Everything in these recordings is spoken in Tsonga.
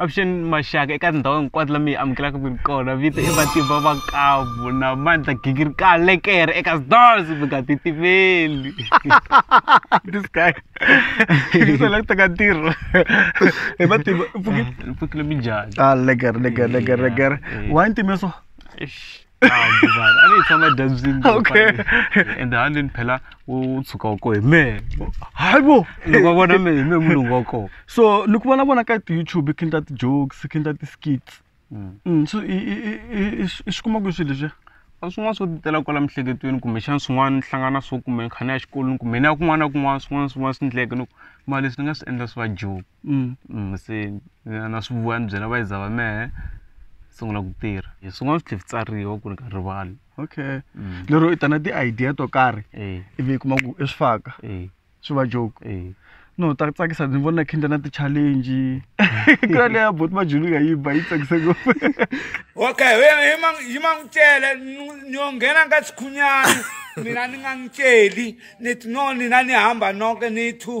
avuxeni maxaka eka tindhawu hinkwato la mi yi amukelaka ku ri kona vito i matimba makavu na mandla gingirika lekere eka sdos mi nga titimeli this guy isela ku teka ntirho hi matimba mpfukile mi njhani ah lekere lekere lekere lekere why ntimeso hambuvana a ni yi tshama edyambyini okay ende ha ndini phela u tshuka wa koho hi mehe hayi bo loko va vona mehe hi mehe mulungu wa koho so ni ku vona vona ka ti-youtube khendla ti-jokes khendla ti-skits mm. mm, so i swi kuma kwihi swilo leswiya a swin'wana swo titela kwala miehleketweni kumbexana swin'wana ni hlangana swo kumbe ni kha ni ya xikolweni kumbe ni ya kun'wana na kun'wana swin'wana swin'wana swi ndleke loko mali leswi ni nga swi endla swi va joke mm. Mm, se na swi vuya ni byela vayiza va mehe sungula ku tirha hi swin'wana swi tlhe tsariwa ku ri ka rivali okay mm. lero i ta na ti-idea to karhi eh. ivi yi kuma ku i swi faka eh. swi va joke eh. no ta tsakisa ndzi vona khendla na ti-challenge ku ya leya boti majulu nga yi ba yi tsakisa ngopfu okay yi ma n'wi cele ni yo nghena ka sikhunyana mina ni nga n'wi celi ni no nina ni hamba noke ni two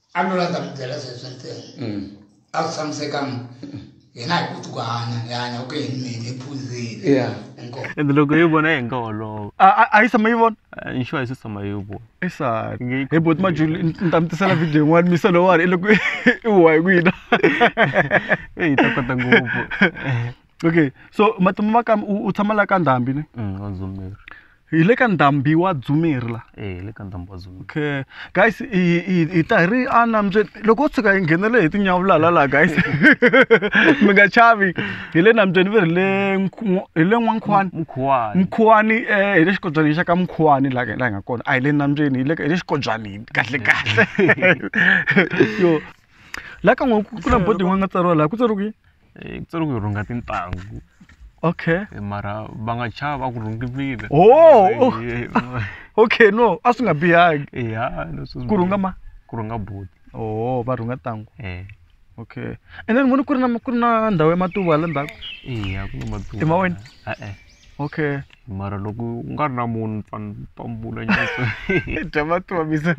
a no landza mi byela sweswo ntsena mm. a swi tshamiseka mi hina hi koti ku hanya hi hanya ku yini mina hi phuzile and loko yi vona hi nga holova a yi tshama yi vona insure a yi se tshama yi vona esani hi bot majuli ni ta mi tisela video yin'wana misa lowani i loko i huwa hi ku yina eyi ta kota ngopfu okay so matimu va ka u u tshama la ka ndhambi ni Mm, wa dzumeri hi le ka ndhambi wa dzumeri la e hi le ka ndhambi wa dzumeri okay guys hi hi hi ta hi ri enambyeni loko u tshuka hi nghenele hi tinyavulala laha guys mi nga chavi hi le nambyeni ve ri le Nkhu- hi le n'wankhwani mukhuwani mkhuwani eh hi le xikobyani xa ka mkhuwani la la hi nga kona a hi le nambyeni hi le hi le xikobyani kahle kahle yo la ka n'we ku na bodi yin'wana nga tsariwa laha ku tsariwa ku yini? Eh, ku tsari ku rhunga tintangu okay Eh, mara va nga chava va ku rhungivile oh oh, Eh, okay no a swi nga bihangi eh, ya, leswi swi- ku rhunga ma ku rhunga buti oh va rhunga tangu Eh, okay and then vona ku ri na ku ri na ndhawu ya matuva hala ndzhaku iya ku na matuva Hi ma wena? e-e okay mara loko u nga ri na munhu ni fane ni pambula nyiko dya matomisa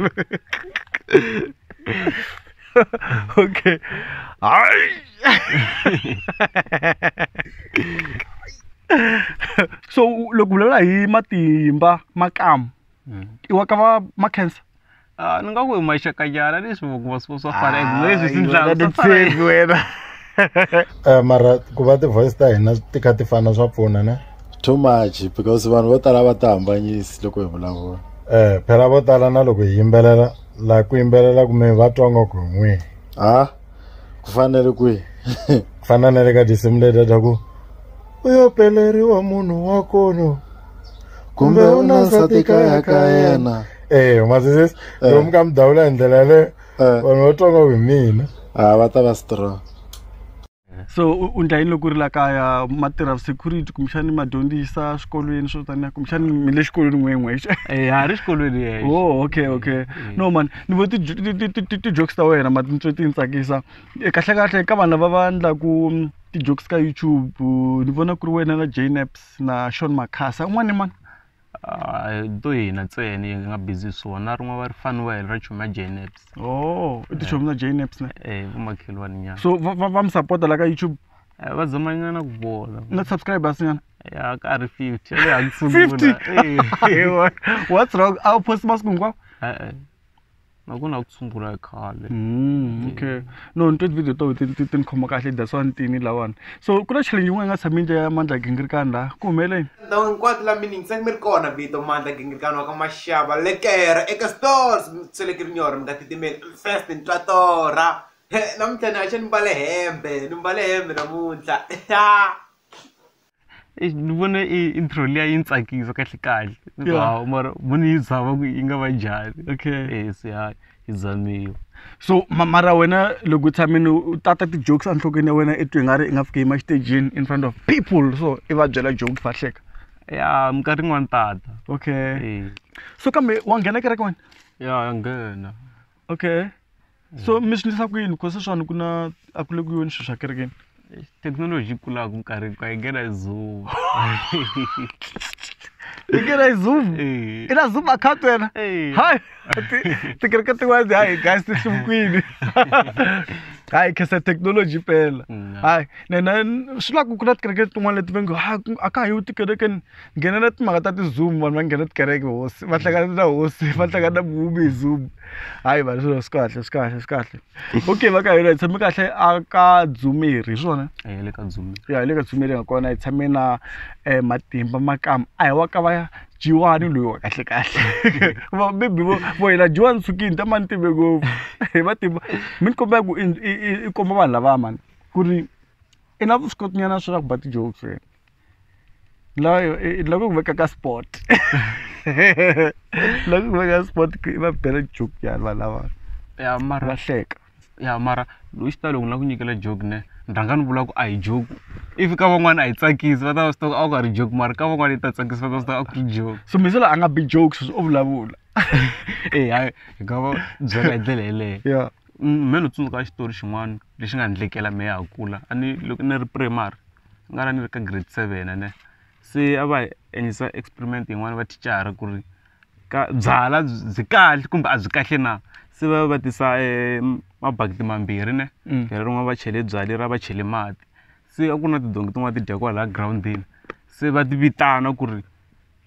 okay hayi so u- loko u vulavula hi matimba makamu i wa ka va ma cancer Ah, ni nga ku hi maxakanyana leswi vangu va swo swa fana and leswi swi ndlaka swa fana titshembi wena Eh, mara ku va ti-voice ta hina ti kha ti fana swa pfuna ne too much because vanhu vo tala va ti hambanyisi loko hi vulavula um phela vo tala na loko hi yimbelela laha ku yimbelela kume va twa nga ku hi n'wihi ha ku fanele kwihi ku fana na le ka tinsimu leti ta ku u yo peleriwa munhu wa kono kumbe u na nsati kaya ka yena eyo masisisi Eh. lomu ka mi dawula hi ndlela yaleyo Eh. vanhu va twa nga ku hi mina ha va ta va strong so u- u ndla yini loko u ri la kaya ma tirha security kumbexani ma dyondzisa swikolweni swo taniya kumbexani mi le xikolweni n'wen'wexe Eh, ha ri xikolweni yexe oh okay okay no man ni vo ti-jokes ta wena ma tintswe ti ni tsakisa Eh, kahlekahle ka vanhu lava va ndlaku mm, ti-jokes ka youtube uh, ni vona ku ri wena na jnaps na sean macasa un'wana ni mani a hi to hina ntsena yi nga busy hi swona na rin'wana va ri faniwele ra chomi ya jnaps oh i tichomi ta jnaps na e vamakhelwani nyana so va va va mi sapota la ka youtube Eh, va zamanyana ku bola na subscribers nyana ya ka ri fifty ya le hansi fifty sungula. Eh, what's wrong a wu post masiku hinkwawo eh, eh. na ku na ku tshungula khale mm, okay no ni twe video to ti ti ni khoma kahle that's why ni tini lawani so ku na challenge yin'wana yi nga tshami ndlela ya mandla gingirikani laha ku humeleni ndhawu hinkwato la meaning se mi ri kona vito mandla gingirikani wa ka maxava lekera eka stores seleke ri nyora mi nga titimeli first ni twa torha namuntlha ni haxa ni mbale hembe ni mbale hembe namuntlha ni vona i intro liya yi ni tsakisa kahle kahle ni ku hawu mara mo ni yi zama ku yi nga va njhani okay eh se ya yi zamiwa so mara wena loko u tshamile u tata ti-jokes enhlokweni ya wena i twi nga ri i nga fiki yima xitejini in front of people so i va byela joke va hleka ya minkarhi yin'wani tata okay so kambe wa nghena kereke wena ya ya nghena okay so mi swi endlisa ku yini because sweswiwani ku na a ku le ku yoni swilo swa kerekeni thekinoloji yi kulaka minkarhi hinkwayo yi nghena hi zoom yi nghena hi zoom Eh. i na zoom account wena Eh. hayi ti- tikereke tin'wani hayi guys ti hluvukwini hayi khesa thekinoloji pela Mm. hayi nena swi la ku ku na tikereke tin'wani leti va ngo ha a ka ha yiwi tikerekeni nghenela timhaka ta ti-zoom vanhu va nghena tikereke hosi va hlangana na hosi va hlangana na muvumbi hi zoom hayi vanhu swilo swi kahle swi kahle swi kahle okay va ka hina hi tshame kahle a ka dzumeri hi swona ya le ka dzumeri ya hi le ka dzumeri nga kona hi tshame na um matimba makama a hi wa ka va jiwani loyi wa kahle kahle maybe vo vo hina jiwani sukini ta mani timbe ngopfu hi matimba mi ni kombela ku i komba vanhu lavaya mani ku ri i na vuswikoti nyana swa ku ba ti-jokes wena loyo i- loko ku veka ka sport loko ku veka sport ku i va bela joke yani vanhu lava ya mara va hleka ya mara loyi xitalo ku na ku nyikela joke ne ni rhanga ni vula ku a hi joke if ka van'wana a yi tsakisi va ta va swi tiva ku a ku a ri joke mara ka van'wana yi ta tsakisa va ta swi tiva a ku ri joke so misela a nga bi jokes o vulavula e hayi hi nga va byela hi ndlela yeleyo ya Mm, me ni tsundzuka xitori xin'wana lexi nga ndlekela me ya ha kula a ni loko ni ri primary ni nga la ni ri ka grade seven ene se a va hi endlisa experiment yin'wani va thicara ku ri ka byalwa byi kahle kumbe a byi kahle na se va va tisa mabakiti mambirhi ne leri rin'wana va chele byalwa leriya va chele mati se a ku na tidonki tin'wani ti dya kwalaya girawundini se va ti vitana ku ri.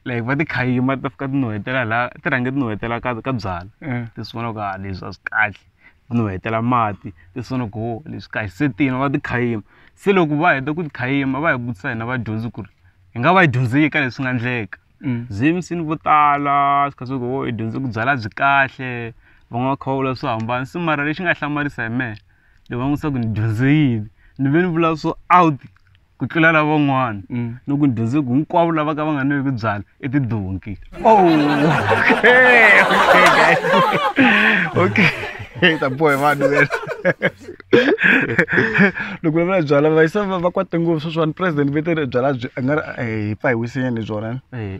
like va ti khayima ti ta fika ti nuhetela la ti rhange ti nuhetela ka ka byala eh. ti sungula ku ha ah, leswi a swi kahle ti nuhetela mati ti sungula ku ho oh, leswi kahle se tina va ti khayima se loko va heta ku ti khayima va hi vutisa hina vadyondzi ku ri hi nga va yi dyondzeki ka leswi nga ndleka mm. zimsini vo tala swi kha swi ku ho oh, hi dyondze ku byala byi kahle van'wana kha va vula swo hambana se mara lexi nga hlamarisa hi mehe loko va n'wi sa ku ni dyondze yini ni ve ni vula swo out ku tlula lavan'wana mm. no ku dyondze ku hinkwavo lava ka va nga nwevi byala i tidonki oh, okay ta bohe vanhu loko va vula byala va yisa va kwate ngopfu sweswiwani president vetele byala a nga ri eh, hi pfa hi wisinyana hi byona eh,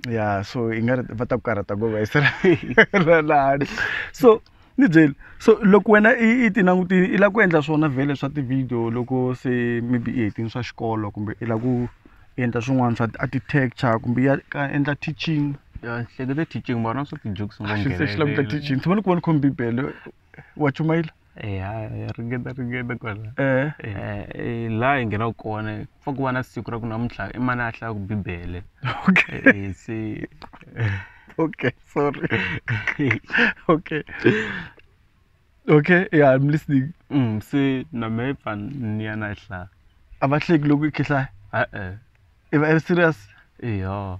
ya so i nga ri va ta ku karhata ngopfu va yisela lani so ni byeli so loko wena i i ti langutile i lava ku endla swona vhele swa ti-video loko se maybe i hetini swa xikolo kumbe i lava ku endla swin'wana swa ti-architecture kumbe ya ka endla teaching hlekete teaching mara na swa ti-jokes xi se xi lava ku ta teaching tshama ni ku va ni khome bibele wa chumayela eya ringeta ringeta kwala eh. eh, eh laha hi nghenaka kona fa ku va na siku ra ku namuntlha i mani a hlaya ku bibele okay eh, se okay sorry okay okay yeah i'm listening mm se na me fa ni ya na hlaya a va hleki loko i khihlaya e-e i va i serious eya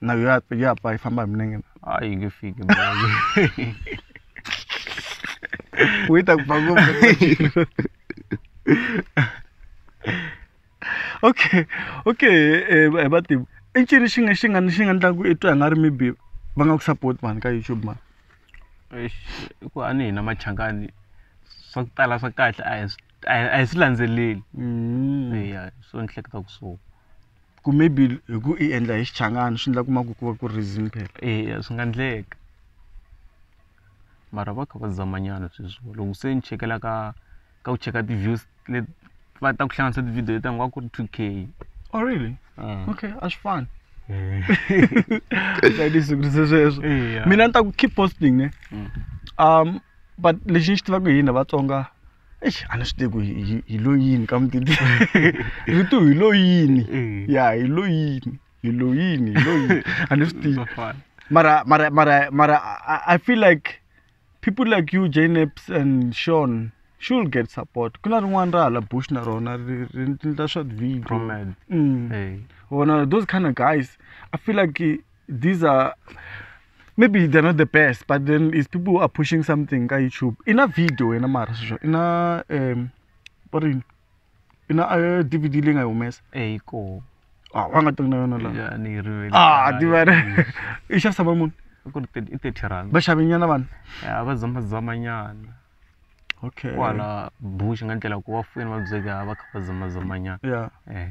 na yo ya- yo apa yi famba hi minenge na a yi nge fiki u yi ta ku pfa ngopfu okay okay eh, eh, vativi i ncini xi nga xi nga xi nga ndlaku i twa hi nga ri maybe va nga ku support mani ka youtube mani Eish, i ku a ni hina machangani swa ku tala swa kahle a hi swi- a hi a hi swi landzeleli Mm. eya so ni hleketa ku so ku maybe hi ku i endla hi xichangani swi endla ku ma ku ku va ku ri reason phela eya swi nga endleka mara va kha va zamanyana sweswo loko se ni chekela ka ka ku cheka ti-views leti va ta ku hlanganisa ti-video leti ku ri two k oh really ah. okay a swi fani ndzi sweswo mina ni ta ku keep posting ne mm. um but lexi ni xi tivaka hi hina vatsonga eish a ni swi tivi ku hi hi- hi lo yini ka mutiti rito hi lo yini Mm. ya hi lo yini hi lo yini hi lo yini a ni swi tivi Bafana. mara mara mara mara I, I feel like people like you jneps and sean should get support ku na rin'wana ra hala bush na rona ri ri endla swa video Promed. mm. Hey. wona those kind of guys i feel like eh, these are maybe they're not the best but then is people who are pushing something ka youtube ina video wena mara sweswo ina um va rini ina uh, d v d leyi nga yi humesa eyi ko ah wa nga tanga na yona laha ya ni yi rivele ah tivana i xavisa va muni ku ri thirty- i thirty rand va xavenyana vanhu ya va zamazamanyana okay kwala bush nga ndlela ku va fuyini va byeka va kha va zamazamanyana ya eh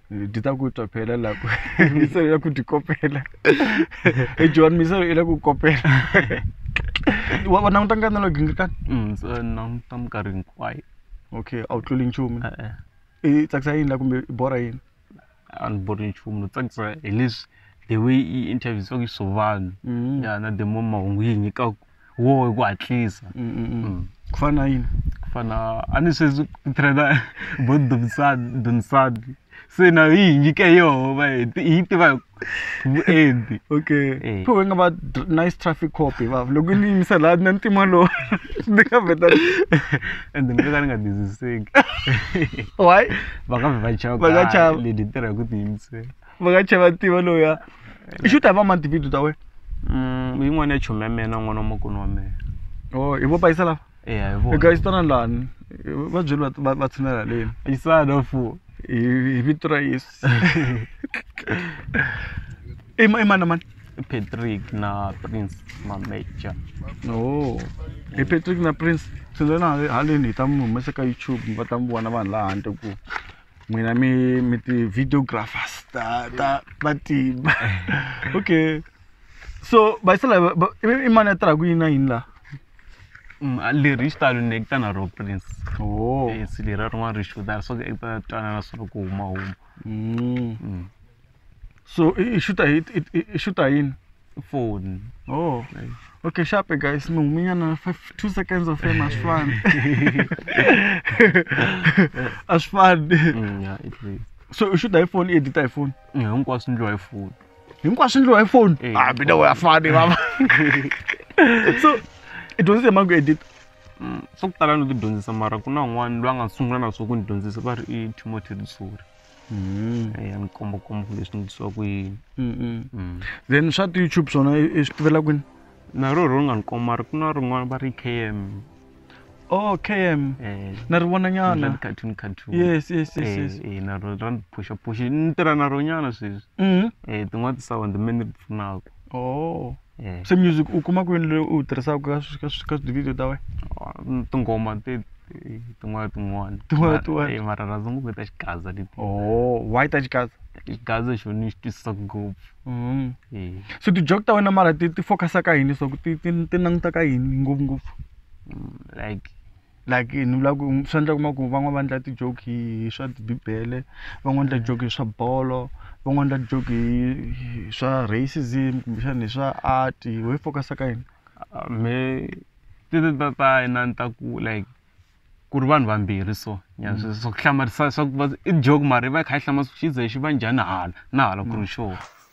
ndita kuitwa phela lapho miselo ila kutikopela ejohani miselo ila kukopela wa languta nkarhi nalo gingirikani Mm, so languta minkarhi hinkwayo okay a wu tluli nchumu e-e i tsakisa yini la kumbe i borha yini a ni bori nchumu no tsakisa hi leswi the way i interview swaku swo vanhu Mhm. ya na the mo mahungu yi nyikaku wo hi ku hatlisa ku fana na yini ku fana a ni sweswi ku trainer bo dumisani dunisani se na yi hi nyike yoho va hi ti- hi yi tiva hi vuenti okay Eh. pho hi nga va dr- nice traffic cop hi vava loko yi ni yimisa laha na ntima lowu ni nga vheta and ni nga ni nga tiziseki why va nga vhe va chava Va nga ka chava. lady tirha hi ku tiyimisela va nga chava tiva loya i xi u ta hi va mani tivhidiyo ta wena Mm, yin'wana ya chomi ya mina n'wana wa makunu wa mina o hi vo payisa lava eya hi vona eka xitana lani va byeli va- va- va tshinela haleni isana fu hi hi vito ra yesu i ma- i mani na mani patrick na prince mameja o hi patrick na prince tshinelana haleni hi ta mi humesa ka youtube va ta mi vona vanhu laha handle ku n'wina mi mi ti-videographers ta ta matimba okay so bayisela i mani a tirhaka yini na yini laha mm, leri hi xitalo ni ekita na ro prince oh. yes leri rin'wana ri xudara so ekita twanana swa ku huma huma mm. mm. so i xuta hi i xuta yini phone oh okay, okay sharp guys mi huminyana 5 2 seconds of fame asifani asifani mm, yeah it is so i xuta hi phone i edita hi phone yeah hinkwaswo ndliwa hi phone hinkwaswo ndliwa hi phone eh. ah mina wa fani mama so i dyondzise mangu edita mm, swa ku tala ni ti dyondzisa mara ku na un'wana loyi a nga sungula na swo ku ni dyondzisa va ri i timothy risori Mm. Eh, ya ni komba komba ku leswi ndisiwa ku yini mm, mm. mm. then swa ti-youtube swona i swi tivela kwini na ro ro nga ni komba ri ku na rin'wana va ri km oh km eh. na ri vona nyana cartoon cartoon yes yes yes eh, yes eh na ro ra phusha phusha ni tirha na ro nyana sweswi mm-hmm. eh tin'wana ti sound me ni pfunaka oh Mm. se music u kuma kwini leyi u wu tirhisaka ka swi- ka swi- ka tivhidiyo ta wena Oh, tinghoma ti ti- tin'wana tin'wana Tin'wana Mara- tin'wana. eh, mara rhandza ngopfu ta xigaza leti oh why ta xikaza xigaza xo ni xi twisisa ngopfu mm. Eh, so ti-jok ta wena mara ti ti focus-a ka yini leswaku ti ti ti languta ka yini ngopfungopfu mm, like like ni vula ku swa endleka u kuma ku van'wana va endla ti-joke hi swa bibele van'wana endla joke hi swa bolo van'wana endla joke hi hi swa racism kumbexana hi swa art wehe i focus-a ka yini mehe ti ta ta ta yena ni ta ku like ku ri vanhu vambirhi so nyana swi swa ku hlamarisa swa ku i joke mara i va i kha i hlamala swa ku xize xi va njhani hala na hala ku ri xona.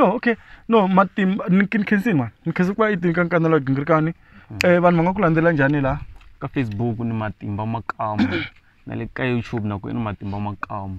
no okay no matimba ni ni khensi mani ni khensi ku va yi tinkankana la gingirikani um vanhu va nga ku landzela njhani laha ka facebook ni matimba makamu na le ka youtube na ku i ni matimba makamu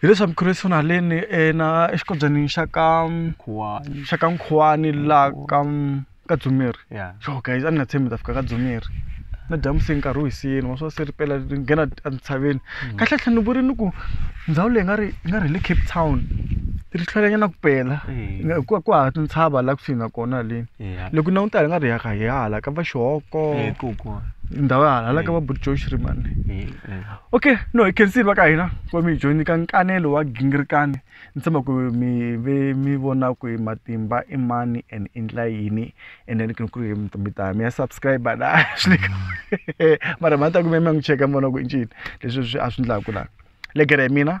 hi leswi mukhrisitu na haleni ena exikombyeni xa ka khuwani xa ka nkhuwani laha ka ka dzumeri ya yo guys a ni nga tshembi ta fika ka dzumeri na dyambu se nkarhi wu hisini wa swa se ri pela ri nghena entshaveni mm. kahle tlhe ni vuri ni ku ndhawu leyi nga ri yi nga ri hi le cape town ri hlwelanyana ku pela hikuva ku hava tintshava laha kusuhi na kona haleni loko na n'witala hi nga ri hi hala ka va xihoko ndhawu ya hala hala ka va buti joshrimane okay no hi khensile va ka hina ku va mi hi joyini ka nkanelo wa gingirikani ni tshemba ku mi ve mi vona ku hi matimba i mani and i ndla yini and then ku ri hi mi ta mi ya subscribe la swi mara ma ta ku mi ya mi ya n'wi cheka mi vona ku i ncini leswi swi a swi ndlaku la legere hi mina